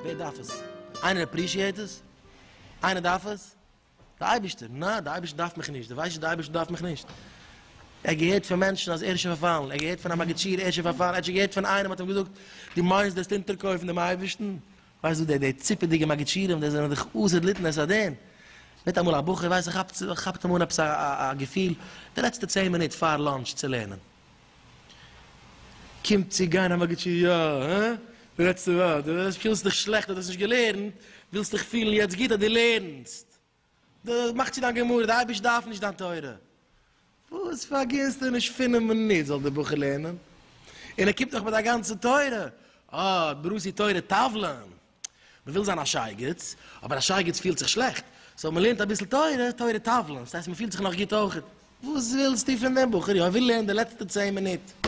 ווער דארף עס? איינער עפרישיעט עס? איינער דארף עס? די אייבערשטער? נעה, די אייבערשטער דארף מיך נישט, די ווייסט נישט די אייבערשטער דארף מיך נישט. ער געהערט פון מענטשן אז ער איז שוין פארפאלן, ער האט געהערט פון א מאגיטשיר ער איז שוין פארפאלן, ער האט שוין געהערט פון איינעם האט אים געזאגט, דו מיינסט דו וועסט אונטערקויפן דעם אייבערשטן? ווייסט דו די די ציפעדיגע מגיד שיעורים די זענען דיך עושה דלית נס הדין, וועט אמאל א בחור ווייסט זיך כאפט כאפט אים אן עפעס א געפיל די לעצטע צען מינוט פאר לאנטש צו לערנען קומט צו גיין א מגיד שיעור יא הא די לעצטע ווארט די פילסט דיך שלעכט אז די האסט נישט געלערנט ווילסט דיך פילן יעצט גוט אז די לערנסט. די מאכט צו דיין גמרא, די אייבערשטער דארף נישט דיין תורה. וואס פארגינטסטו נישט פינף מינוט זאל די בחור לערנען? און ער קומט נאך מיט א גאנצע תורה, אה, ברוסי תורה טאוולען. מען וויל זיין א שייגעץ, אבער א שייגעץ פילט זיך שלעכט, סאו מען לערנט אביסל תורה, תורה טאוולען, ס'הייסט מען פילט זיך נאך גוט אויכעט. וואס ווילסטו פון דעם בחור? יא ער וויל לערנען די לעצטע צען מינוט.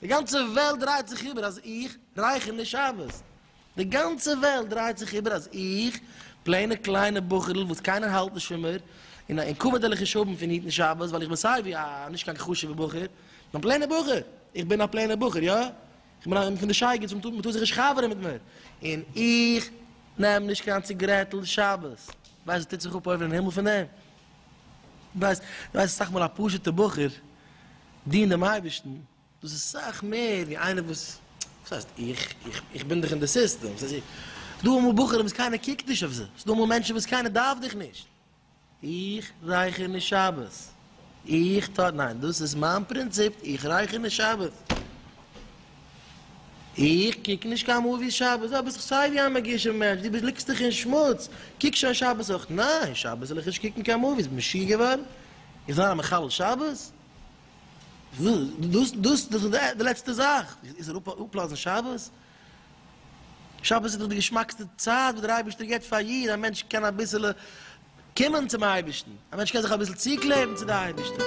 די גאנצע וועלט דרייט זיך איבער אז איך רייכער נישט שאוועס. די גאנצע וועלט דרייט זיך איבער אז איך, פלעינע קליינע בחור'ל וואס קיינער האלט נישט פון מיר, און א אומקאווערדעליכע שאבן פון היטן שאוועס ווייל איך בין סייווי א נישט קיין חשוב'ע בחור, נאר א פלעינע בחור. איך בין א פלעינע בחור, יא. איך בין איינער פון די שייגעץ וואס מ'טאר זיך נישט חבר'ן מיט מיר. און איך נעם נישט קיין ציגרעטל שאוועס. ווייסט וואס טוט זיך אפ אויבן אין הימל פון דעם? ווייסט, דו ווייסט אסאך מאל א פשוט'ע בחור דינט דעם אייבערשטן, דאס איז סאך מער ווי איינער וואס, וואס הייסט איך, איך בין דאך אין די סיסטעם, ס'איז דא אמאל בחורים וואס קיינער קוקט נישט אויף זיי, ס'איז דא אמאל מענטשן וואס קיינער דארף דיך נישט, איך רייכער נישט שבת, איך טאר, ניין דאס איז מיין פרינציפ, איך רייכער נישט שבת. איך קוק נישט קיין מאוויס שבת, אויב ביסט סיי ווי א מגושם מענטש, דו ליגסט דיך אין שמוץ, קוק שוין שבת אויך, ניין שבת זאל איך נישט קוקן קיין מאוויס, ביסט משוגע געווארן? איך זאל זיין א מחלל שבת? דאס דאס איז דאך די לעצטע זאך, איך זאל אפלאזן שבת? שבת איז דאך די געשמאקסטע צייט וואס דער אייבערשטער געבט פאר א איד, א מענטש קען אביסעלע. קומען צום אייבערשטן, א מענטש קען זיך אביסל צוקלעבן צו די אייבערשטער.